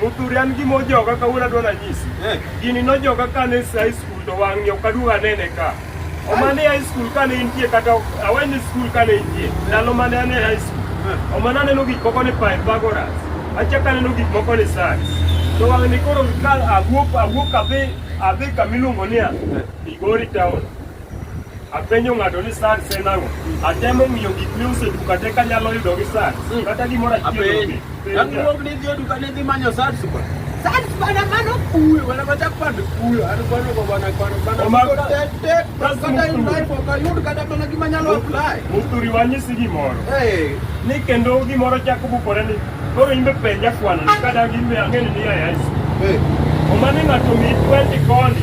Muthuri an gima ojoga kawuono adwa nanyisi. Eh. Gini nojoga kane e high school to wang'e ok aduog anene ka. Omane e high school kane intie kata aweni school kane intie. Ndalo mane ane e high school. Eh. Omane aneno gik moko ni Pythagoras. Achaka aneno gik moko ni science. To wang'ni koro ka awuok awuok adhi adhi kamiluongo niya Migori town. apenjo ng'ato ni sad sen ang'o atemo ng'iyo gik miuso e duka te kanyalo yudo gi sad hmm. kata gimoro achielduok ni dhi e duka ni dhi manyo sad supa sad bana mano kuyo bana machak pand kuyo an kwano go bana kwano bana kata yudai pok ayud kata mana gima nyalo apply muturi wanyisi gimoro ni kendo gimoro chako bukore ni koro imbe penja kwano kata gimbe ang'eni ni ayais omani ng'ato mi 20 koni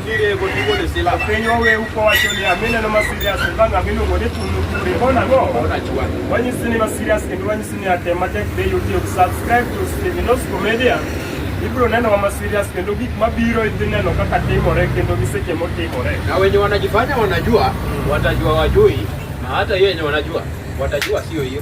Piny waweu kowacho ni amineno ma serious bang' aminugo ni tunu kure bona go wanyisi ni ma serious kendo wanyisi ni atem matek be YouTube subscribe to Stevenos Comedia ibiro neno ma serious kendo gik mabiro idhi neno kaka timore kendo gi seche motimore na wenye wanajifanya wanajua watajua wajui na hata hiyo yenye wanajua watajua sio hiyo